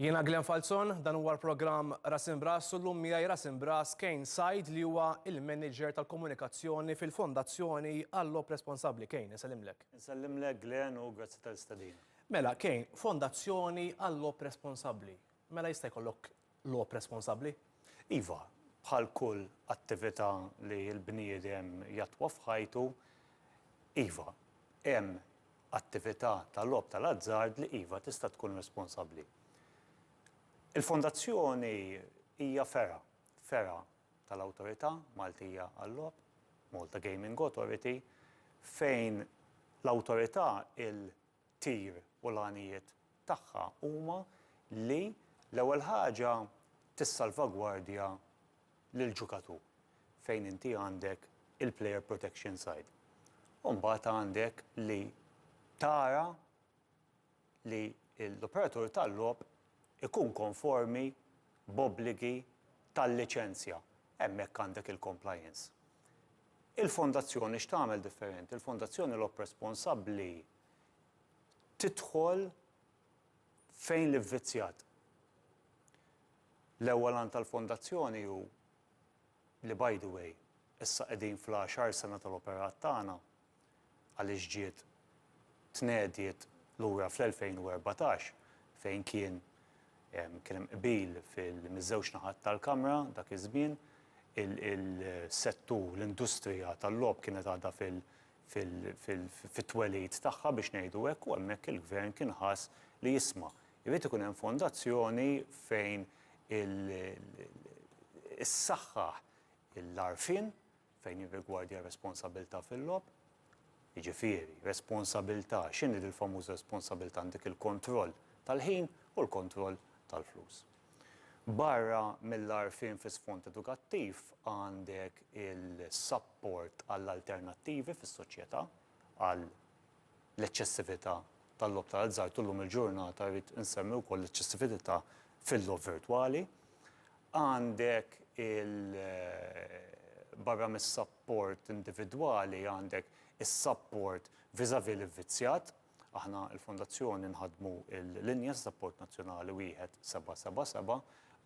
Jiena Glen Falzon, dan huwa l-programm Ras Imbras u llum miegħi Ras Imbras Kane Said li huwa il-Manager tal-Komunikazzjoni fil-Fondazzjoni għall-Logħob Responsabbli. Kane, insellimlek. Insellimlek Glen u grazzi tal-istedina. Mela Kane, Fondazzjoni għall-Logħob Responsabbli, mela jista' jkollok logħob responsabbli? Iva, bħal kull attività li l-bniedem jattwa f'ħajtu, iva, hemm attività ta' logħob tal-azzard li iva tista' tkun responsabbli. Il-Fondazzjoni hija fergħa, fergħa tal-Awtorità Maltija għal-Logħob, Malta Gaming Authority, fejn l-Awtorità, tir u l-għanijiet tagħha huma li l-ewwel ħaġa tissalvagwardja lill-ġukatur fejn inti għandek il-player protection side. U mbagħad għandek li tara li l-operatur tal-logħob ikun konformi b'obbligi tal-liċenzja. Hemmhekk għandek il-compliance. Il-Fondazzjoni x'tagħmel differenti? Il-Fondazzjoni Lob Responsabbli tidħol fejn l-ivvizzjat. L-ewwel għan tal-Fondazzjoni hu li by the way, issa qegħdin fl-għaxar sena tal-operat tagħna, għaliex ġiet tnediet lura fl-2014 fejn kien kien hemm qbil miż-żewġ naħat tal-Kamra dak iż-żmien, il-settur, l-industrija tal-logħob kienet għadha fit-twelid tagħha biex ngħidu hekk u hemmhekk il-Gvern kien ħass li jisma' jrid ikun hemm fondazzjoni fejn issaħħaħ l-għarfien, fejn jirrigwardja r-responsabilità fil-logħob, jiġifieri responsabilità, x'inhi din il-famuża responsabilità għandek il-kontroll tal-ħin u l-kontroll tal-flus. Barra mill-għarfien fi sfond edukattiv għandek il-sapport għall-alternattivi fis-soċjetà għal l-eċċessività tal-logħob tal-azzard u llum il-ġurnata rrid insemmi wkoll l-eċċessivitità fil-logħob virtwali. Għandek il barra mis-sapport individwali għandek is-sapport vis-à-vis l-ivvizzjat. Aħna l-Fondazzjoni nħaddmu l-linja ta' sapport nazzjonali 1777,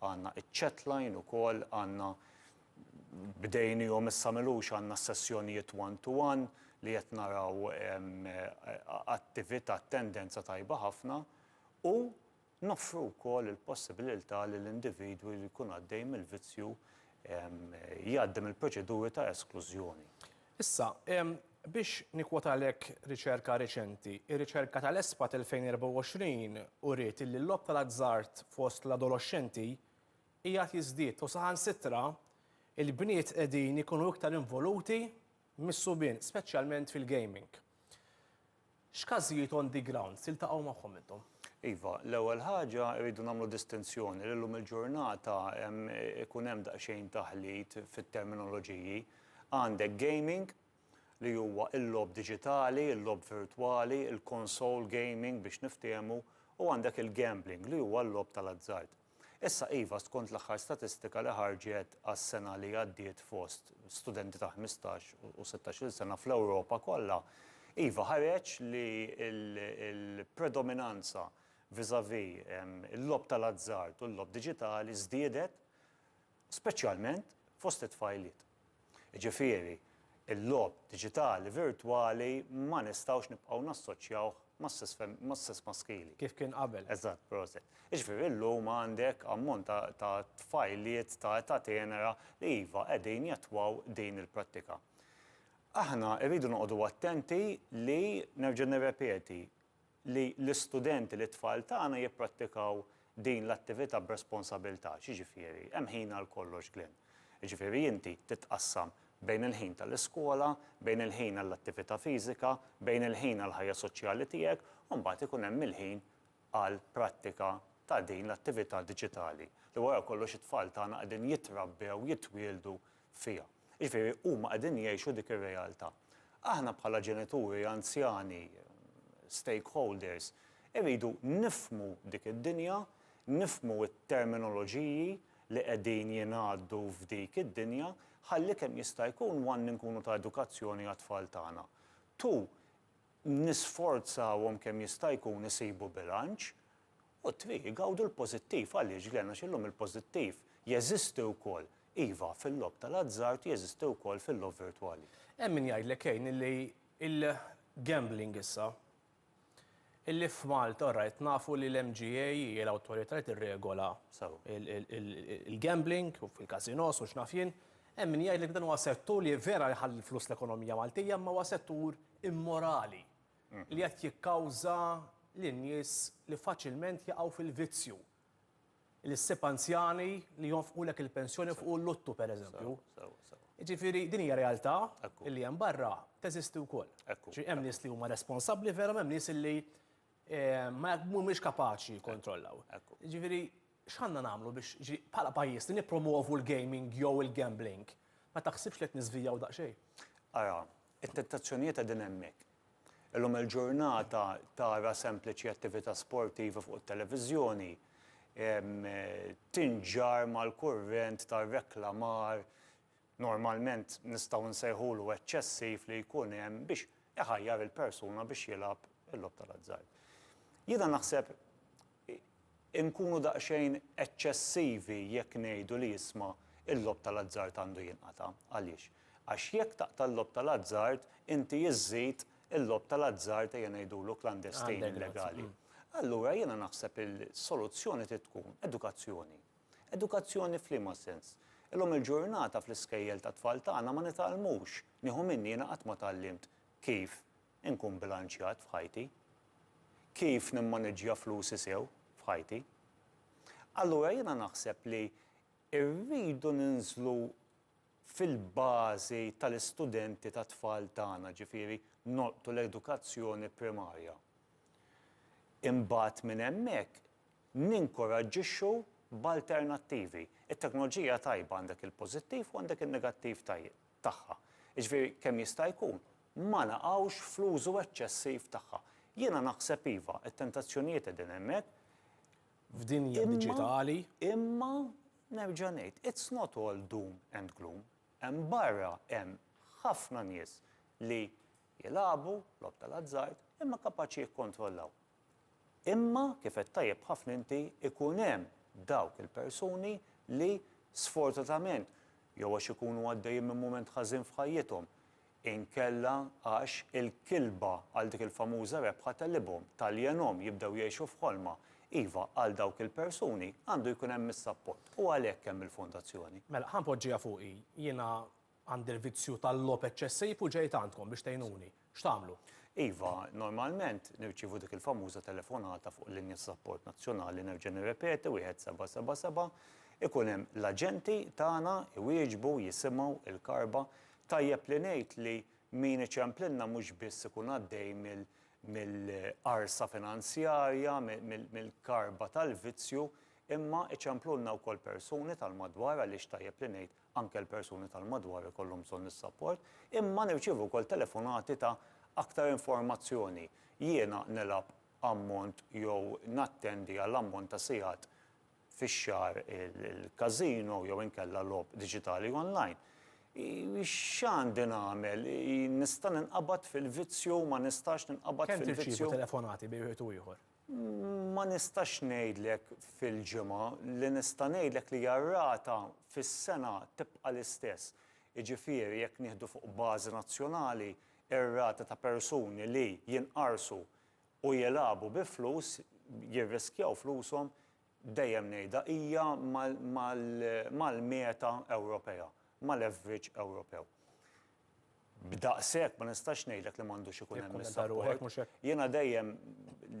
għandna iċ-chatline ukoll, għandna bdejniehom issa m'ilux għandna s-sessjonijiet one to one li qed naraw attività, tendenza tajba ħafna u noffru wkoll il-possibililtà li l-individwi li jkun għaddej mill-vizzju jgħaddi mill-proċeduri ta' esklużjoni. Issa, biex nikkwotalek riċerka reċenti, ir-riċerka tal-ESPAT 2024 uriet illi l-logħob tal-azzard fost l-adoloxxenti qiegħed jiżdied u saħansitra l-bniet qegħdin ikunu iktar involuti mis-subien, speċjalment fil-gaming. X'każijiet on the ground tiltaqgħu magħhom intom? Iva, l-ewwel ħaġa rridu nagħmlu distinzjoni li llum il-ġurnata hemm ikun hemm daqsxejn taħlit fit-terminoloġiji. Għandek gaming li huwa l-logħob diġitali, il-logħob virtwali, il-console gaming biex niftehmu, u għandek il-gambling li huwa l-logħob tal-azzard. Issa iva, skont l-aħħar statistika li ħarġet għas-sena li għaddiet fost studenti ta' ħmistax u sittax-il sena fl-Ewropa kollha, iva ħareġ li l-predominanza vis-à-vis il-logħob tal-azzard u l-logħob diġitali żdiedet speċjalment fost it-tfajliet. Jiġifieri, il-logħob diġitali virtwali ma nistgħux nibqgħu nassoċjawh mas-sess maskili. Kif kien qabel. Eżatt, proset. Jiġifieri llum għandek ammont ta' tfajliet ta' età tenera li iva qegħdin jattwaw din il-prattika. Aħna rridu noqogħdu attenti li, nerġa' nirrepeti, li l-istudenti, li t-tfal tagħna jipprattikaw din l-attività b'responsabilità, x'jiġifieri? Hemm ħin għal kollox, Glenn. Jiġifieri inti titqassam bejn il-ħin tal-iskola, bejn il-ħin għall-attività fiżika, bejn il-ħin għall-ħajja soċjali tiegħek, u mbagħad ikun hemm il-ħin għall-prattika ta' din l-attività diġitali, li wara kollox it-tfal tagħna qegħdin jitrabbew, jitwieldu fiha. Jiġifieri huma qegħdin jgħixu dik ir-realtà. Aħna bħala ġenituri, anzjani, stakeholders, irridu nifhmu dik id-dinja, nifhmu t-terminoloġiji li qegħdin jingħaddu f'dik id-dinja ħalli kemm jista' jkun one inkunu ta' edukazzjoni għat-tfal tagħna, two nisforzawhom kemm jista' jkun isibu bilanċ U t-tnejn igawdu l-pożittiv. Għaliex, Glenn? Għax illum il-pożittiv jeżisti wkoll, iva, fil-logħob tal-azzard, jeżisti wkoll fil-logħob virtwali. Hemm min jgħidlek, Kane, illi l-gambling issa, illi f'Malta, all right, nafu li l-MGA hi l-awtorità li tirregola l-gambling u l-każinos u x'naf jien, hemm min jgħidlek li dan huwa settur li vera jħalli l-flus l-ekonomija Maltija imma huwa settur immorali. li qed jikkawża lin-nies li faċilment jaqgħu fil-vizzju, li ssib anzjani li jonfqulek il-pensjoni fuq il-luttu pereżempju. Jiġifieri din hija realtà li hemm barra, teżisti wkoll. Ġifieri hemm nies li huma responsabbli veru, hemm nies li mhumiex kapaċi jikkontrollaw. Jiġifieri X'għandna nagħmlu biex, jiġifieri, bħala pajjiż li nippromwovu l-gaming jew il-gambling? Ma taħsibx li qed niżvijaw daqsxejn? Ara, it-tentazzjonijiet qegħdin hemmhekk. Illum il-ġurnata tara sempliċi attività sportiva fuq it-televiżjoni tinġarr mal-kurrent tar-reklamar, normalment nistgħu nsejħulu eċċessiv li jkun hemm biex iħajjar il-persuna biex jilgħab il-logħob tal-azzard. Jiena naħseb Inkunu daqsxejn eċċessivi jekk ngħidu li isma' l-logħob tal-azzard għandu jinqata'. Għaliex? Għax jekk taqta' l-logħob tal-azzard, inti iżżid il-logħob tal-azzard ejja ngħidulu klandestin, illegali. Allura jiena naħseb il-soluzzjoni trid tkun edukazzjoni. Edukazzjoni f'liema sens? Illum il-ġurnata fl-iskejjel tat-tfal tagħna ma nitgħallmux, nieħu minni jiena qatt ma tgħallimt kif inkun bilanċjat f'ħajti, kif nimmaniġġja flusi sew f'ħajti. Allura jiena naħseb li rridu ninżlu fil-bażi tal-istudenti tat-tfal tagħna, ġifieri nolqtu l-edukazzjoni primarja. Imbagħad minn hemmhekk ninkoraġġixxu b'alternattivi. It-teknoloġija tajba għandek il-pożittiv u għandek in-negattiv tagħha. Jiġifieri kemm jista' jkun ma naqgħux fl-użu eċċessiv tagħha. Jiena naħseb iva, it-tentazzjonijiet qegħdin hemmhekk. F'dinja diġitali. Imma nerġa' ngħid, it's not all doom and gloom. Hemm barra hemm ħafna nies li jilagħbu logħob tal-azzard imma kapaċi jikkontrollaw. Imma, kif għedt tajjeb ħafna inti, ikun hemm dawk il-persuni li, sfortunatament, jew għax ikunu għaddejjin minn mument ħażin f'ħajjithom, inkella għax il-kilba għal dik il-famuża rebħa tegħlibhom, taljenhom, jibdew jgħixu f'ħolma. Iva, għal dawk il-persuni għandu jkun hemm is-sapport u għalhekk hemm il-Fondazzjoni. Mela, ħa npoġġiha fuqi. Jiena Għandi l-vizzju tal-logħob eċċessiv u ġejt għandkom biex tgħinuni. X'tagħmlu? Iva, normalment nirċievu dik il-famuża telefonata fuq il-linja ta' sapport nazzjonali, nerġa' nirrepeti, wieħed seba' seba' seba', ikun hemm l-aġenti tagħna jwieġbu, jisimgħu l-karba. Tajjeb li ngħid li min iċemplilna mhux biss ikun għaddej mill-qarsa finanzjarja, mill-karba tal-vizzju, imma iċemplulna wkoll persuni tal-madwar għaliex tajjeb li ngħid Anke l-persuni tal-madwar ikollhom bżonn is-sapport. Imma nirċievu wkoll telefonati ta' aktar informazzjoni. Jiena nilgħab ammont jew nattendi għal ammont ta' sigħat fix-xahar il-każino jew inkella logħob diġitali online. X'għandi nagħmel? Nista' ninqabad fil-vizzju, ma nistax ninqabad fil-vizzju? Kemm tirċievu telefonati bejn wieħed u ieħor? Ma nistax ngħidlek fil-ġimgħa. Li nista' ngħidlek li r-rata fis-sena tibqa' l-istess. Jiġifieri jekk nieħdu fuq bażi nazzjonali, ir-rata ta' persuni li jinqarsu u jilagħbu bi flus, jirriskjaw flushom, dejjem ngħidha, hija mal-meta Ewropea, mal-average Ewropew. B'daqshekk ma nistax ngħidlek li m'għandux ikun hemm is-sapport. Jiena dejjem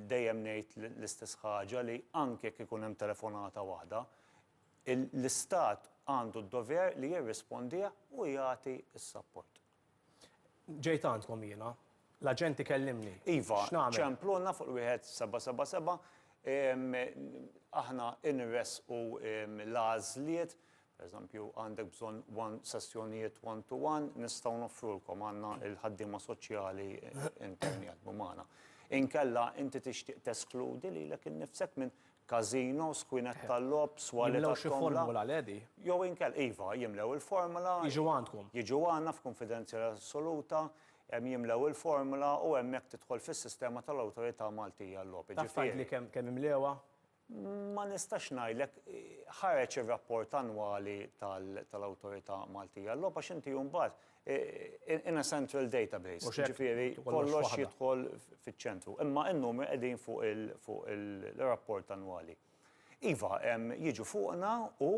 dejjem ngħid l-istess ħaġa li anke jekk ikun hemm telefonata waħda, l-istat għandu d-dover li jirrispondih u jagħti s-sapport. Ġejt għandkom jiena. L-aġent ikellimni. Iva, ċempluna fuq l-wieħed seba' seba' seba'. Aħna nressqu l-għażliet, pereżempju għandek bżonn one sessjonijiet one to one, nistgħu noffrulkom, għandna l-ħaddiema soċjali interni jaħdmu magħna. Inkella inti tixtieq teskludi lilek innifsek minn każinos, kwinet tal-logħob, swali Jimlew xi tat-tomla. formula, le di? Jew inkella, iva, jimlew il-formula. Jiġu għandkom. Jiġu għandna f'kunfidenzjalità assoluta, em, jimlew il-formula u hemmhekk tidħol fis-sistema tal-Awtorità Maltija għal-Logħob. Taf Jiġifieri, tgħidli kemm kemm imlewha? ma nistax ngħidlek, ħareġ ir-rapport annwali tal-Awtorità Maltija għal-Logħob għax inti mbagħad in a central database, ġifiri kollox jidħol fiċ-ċentru. Imma n-numri qegħdin fuq il-rapport annwali. Iva, jiġu fuqna u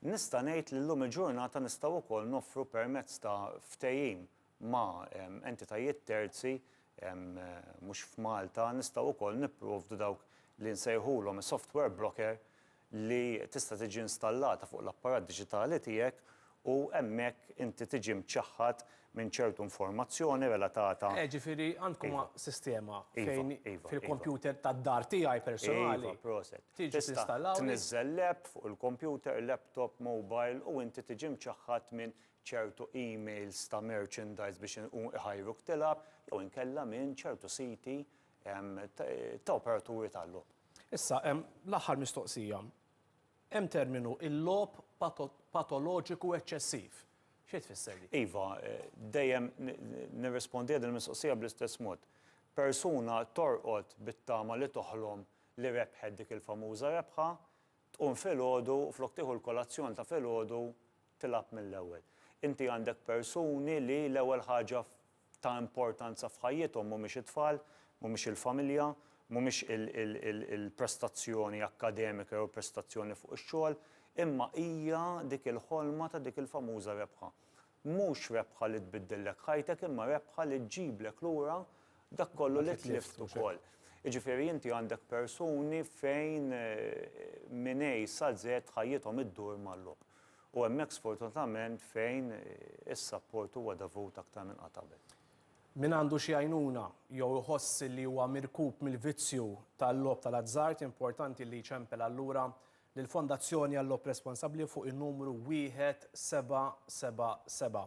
nista' ngħid li llum il-ġurnata nistgħu wkoll noffru permezz ta' ftehim ma' entitajiet terzi mhux f'Malta, nistgħu wkoll nipprovdu dawk li nsejħulhom software broker li tista' tiġi installata fuq l-apparat diġitali tiegħek u hemmhekk inti tiġi mċaħħad minn ċertu informazzjoni relatata. Eh, ġifieri għandkom sistema fejn fil-kompjuter tad-dar tiegħi personali. Iva, proset. Tiġi tinstallawli. Tniżżel l-app fuq il-kompjuter, laptop, mobile u inti tiġi mċaħħad minn ċertu emails ta' merchandise biex iħajruk tilgħab jew inkella minn ċertu siti ta' operaturi tal-logħob. Issa, l-aħħar mistoqsija. Hemm terminu il-logħob patoloġiku eċċessiv. Xi tfisser din? Iva, dejjem nirrispondiha din il-mistoqsija bl-istess mod. Persuna torqod bit-tama li toħlom li rebħet dik il-famuża rebħa, tqum filgħodu u flok tieħu l-kolazzjon ta' filgħodu tilgħab mill-ewwel. Inti għandek persuni li l-ewwel ħaġa ta' importanza f'ħajjithom mhumiex it-tfal, mhumiex il-familja, mhumiex il-prestazzjoni akkademika jew il-prestazzjoni fuq ix-xogħol, imma hija dik il-ħolma ta' dik il-famuża rebħa. Mhux rebħa li tbiddillek ħajtek imma rebħa li ġġiblek lura dak kollu li tlift ukoll. Jiġifieri inti għandek persuni fejn minn A sa Z ħajjithom iddur mal-logħob. U hemmhekk sfortunatament fejn is-sapport huwa dovut aktar minn qatt qabel. Min għandu xi għajnuna jew iħoss li huwa mirkub mill-vizzju tal-logħob tal-azzard importanti li jċempel allura lill-Fondazzjoni għal-Logħob Responsabbli fuq in-numru 1777.